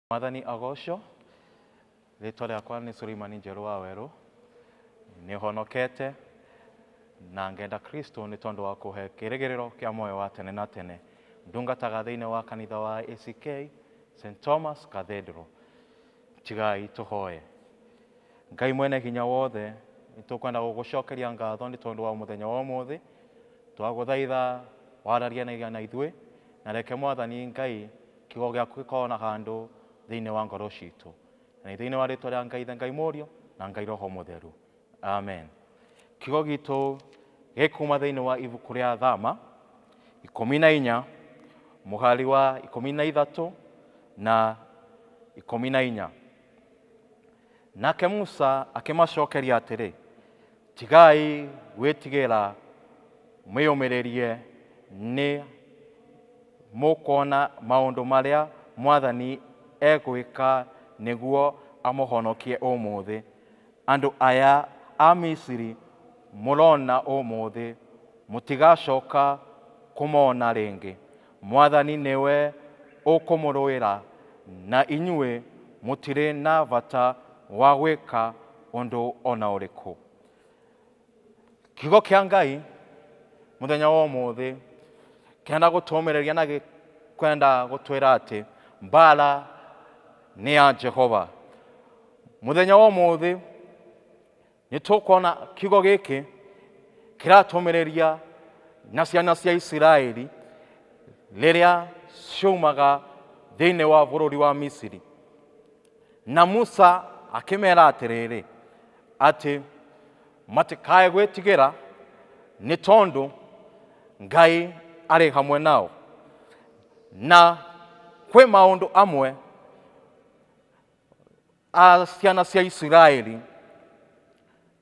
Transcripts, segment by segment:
mwathani agocwo rĩtwa rĩakwa nĩ suleimani njerũ wa werũ nĩ honokete na ngenda kristo nĩ tondũ wa kũhe kĩrĩgĩrĩro kĩa moyo wa tene na tene ndungataga thĩinĩ wa kanitha wa ack st thomas cathedral Tigai tũhoye. Ngai mwene hinya wothe, nĩ tũkwenda gũgũcokeria ngatho nĩ tondũ wa mũthenya wa ũmũthĩ. Twagũthaitha wararianagia na ithuĩ, na reke Mwathani Ngai kiugo gĩaku gĩkorwo na handũ thĩinĩ wa ngoro citũ. Na nĩ thĩinĩ wa rĩtwa rĩa Ngai Ithe, Ngai Mũriũ, na Ngai Roho Mũtheru. Amen. Kiugo gitũ gĩkuma thĩinĩ wa ibuku rĩa Thama ikũmi na inya mũhari wa ikũmi na ithatũ na ikũmi na inya. Nake Musa akĩmacokeria atĩrĩ, tigai gwĩtigĩra mwĩyũmĩrĩrie nĩ mũkuona maũndũ marĩa mwathani egwĩka nĩguo amũhonokie ũmũthĩ. Andũ aya a Misiri mũrona ũmũthĩ, mũtigacoka kũmona rĩngĩ. Mwathani nĩwe ũkũmũrũĩra, na inyuĩ mũtirĩ na bata wa gwĩka ũndũ o na ũrĩkũ. Kiugo kĩa Ngai mũthenya wa ũmũthĩ kĩenda gũtũmĩrĩria na gĩ- kwenda gũtwĩra atĩ mbara nĩ ya Jehova. Mũthenya wa ũmũthĩ nĩ tũkuona kiugo gĩkĩ kĩratũmĩrĩria na ciana cia Isiraeli rĩrĩa ciumaga thĩinĩ wa bũrũri wa Misiri. Na Musa akĩmeera atĩrĩrĩ, atĩ matikae gwĩtigĩra, nĩ tondũ Ngai arĩ hamwe nao. Na kwĩ maũndũ amwe a ciana cia Isiraeli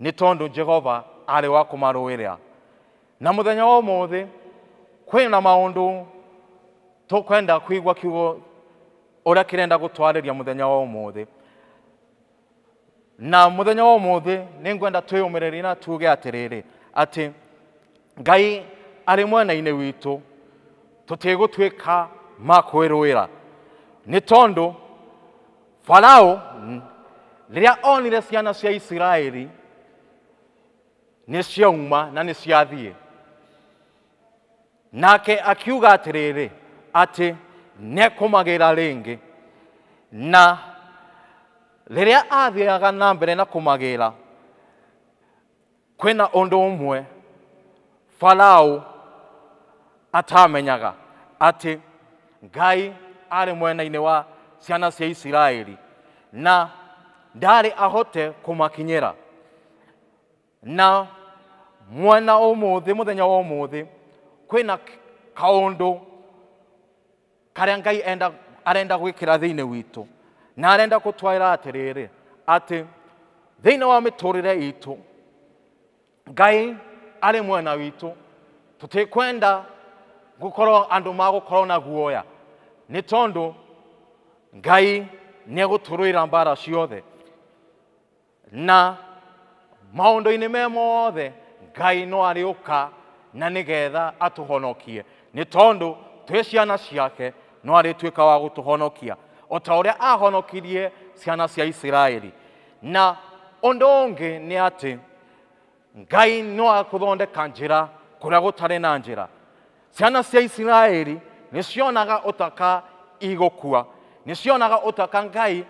Nĩ tondũ Jehova arĩ wa kũmarũĩrĩra. Na mũthenya wa ũmũthĩ kwĩ na maũndũ tũkwenda kũigua kiugo ũrĩa kĩrenda gũtwarĩria mũthenya wa ũmũthĩ na mũthenya wa ũmũthĩ nĩ ngwenda twĩyũmĩrĩrie na tuge atĩrĩrĩ atĩ Ngai arĩ mwena-inĩ witũ tũtigũtuĩka ma kwĩrũĩra nĩ tondũ Farao rĩrĩa onire ciana cia Isiraeli nĩ ciauma na nĩ ciathiĩ nake akiuga atĩrĩrĩ atĩ nekũmagĩra rĩngĩ na rĩrĩa athiaga na mbere na kũmagĩra Kwĩ na ũndũ ũmwe Falaũ atamenyaga, atĩ Ngai arĩ mwena-inĩ wa ciana cia Isiraeli, na ndaarĩ ahote kũmakinyĩra. Na mwena ũmũthĩ, mũthenya wa ũmũthĩ, kwĩ na kaũndũ karĩa ngai enda, arenda gwĩkĩra thĩinĩ witũ na arenda kũtwaĩra atĩrĩrĩ atĩ thĩinĩ wa mĩtũrĩre itũ ngai arĩ mwena witũ tũtikwenda gũkorwo andũ magũkorwo na guoya nĩ tondũ ngai nĩ egũtũrũĩra mbara ciothe Na maũndũ-inĩ me mothe Ngai no arĩũka na nĩ getha atũhonokie, nĩ tondũ twĩ ciana ciake no arĩtuĩka wa gũtũhonokia, o ta ũrĩa ahonokirie ciana cia Isiraeli. Na ũndũ ũngĩ nĩ atĩ ngai no agũthondeka njĩra kũrĩa gũtarĩ na njĩra ciana cia isiraeli nĩ cionaga ũtaka igũkua nĩ cionaga ũtaka ngai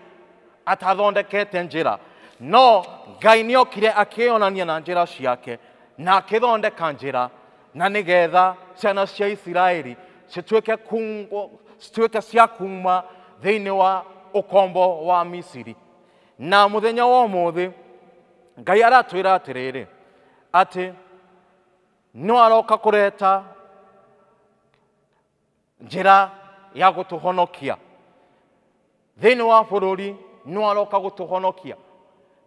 atathondekete njĩra no ngai nĩ okire akĩyonania na njĩra ciake na akĩthondeka njĩra na nĩ getha ciana cia isiraeli cituĩke kungwo- cituĩke cia kuma thĩinĩ wa ũkombo wa misiri Na mũthenya wa ũmũthĩ Ngai aratwĩra atĩrĩrĩ atĩ no aroka kũreta njĩra ya gũtũhonokia thĩinĩ wa bũrũri, no aroka gũtũhonokia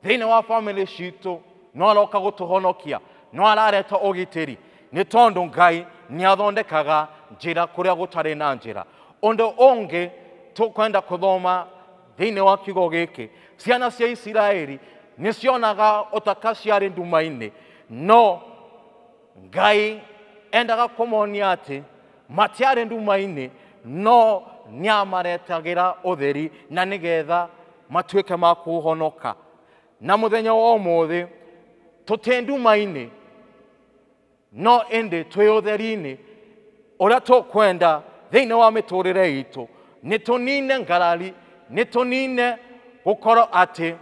thĩinĩ wa bamĩrĩ citũ, no aroka gũtũhonokia, no arareta ũgitĩri nĩ tondũ Ngai nĩ athondekaga njĩra kũrĩa gũtarĩ na njĩra. Ũndũ ũngĩ tũkwenda kũthoma Thĩinĩ wa kiugo gĩkĩ, ciana cia Isiraeli nĩ cionaga ũtaka ciarĩ nduma-inĩ, no Ngai endaga kũmonia atĩ matiarĩ nduma-inĩ, no nĩ amaretagĩra ũtheri na nĩ getha matuĩke ma kũhonoka. Na mũthenya wa ũmũthĩ, tũtĩ nduma-inĩ, no ĩndĩ twĩ ũtheri-inĩ ũrĩa tũkwenda thĩinĩ wa mĩtũrĩre itũ nĩ tũnine ngarari nĩ tũnine gũkorwo atĩ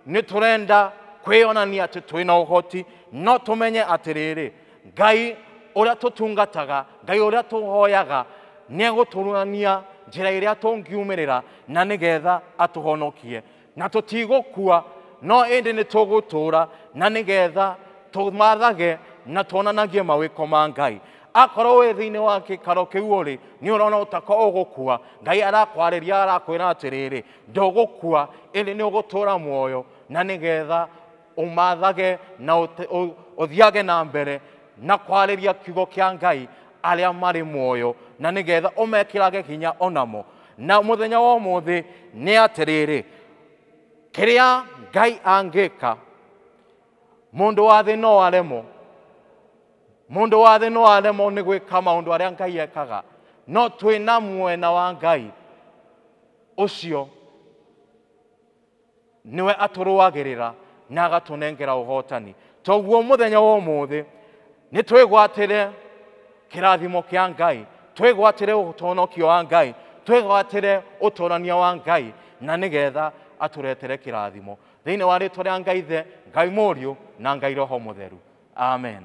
nĩ tũrenda kwĩyonania atĩ twĩ na ũhoti no tũmenye atĩrĩrĩ ngai ũrĩa tũtungataga ngai ũrĩa tũhoyaga nĩ egũtũrania njĩra ĩrĩa tũngiumĩrĩra na nĩgetha atũhonokie na tũtigũkua no ĩndĩ nĩ tũgũtũũra na nĩgetha tũmathage na tuonanagie mawĩko ma ngai akorwo wĩ thĩinĩ wa gĩkaro kĩu ũrĩ nĩ ũrona ũtako ũgũkua ngai arakwarĩria arakwĩra atĩrĩrĩ ndũgũkua ĩndĩ nĩ ũgũtũũra muoyo na nĩgetha Ũmathage na ũte- ũ- ũthiage na mbere na kwarĩria kiugo kĩa Ngai arĩa marĩ muoyo na nĩgetha ũmekĩrage hinya onamo. Na mũthenya wa ũmũthĩ nĩ atĩrĩrĩ, kĩrĩa Ngai angĩka, mũndũ wa thĩ no aremwo mũndũ wa thĩ no aremwo nĩ gwĩka maũndũ arĩa ngai ekaga no twĩ na mwena wa ngai ũcio Nĩwe atũrũagĩrĩra na agatũnengera ũhotani. Toguo mũthenya wa ũmũthĩ nĩ twĩgwatĩre kĩrathimo kĩa Ngai, twĩgwatĩre ũtonokio wa Ngai, twĩgwatĩre ũtonania wa Ngai na nĩ getha atũretere kĩrathimo. Thĩinĩ wa rĩtwa rĩa Ngai Ithe, Ngai Mũriũ na Ngai Roho Mũtheru. Amen.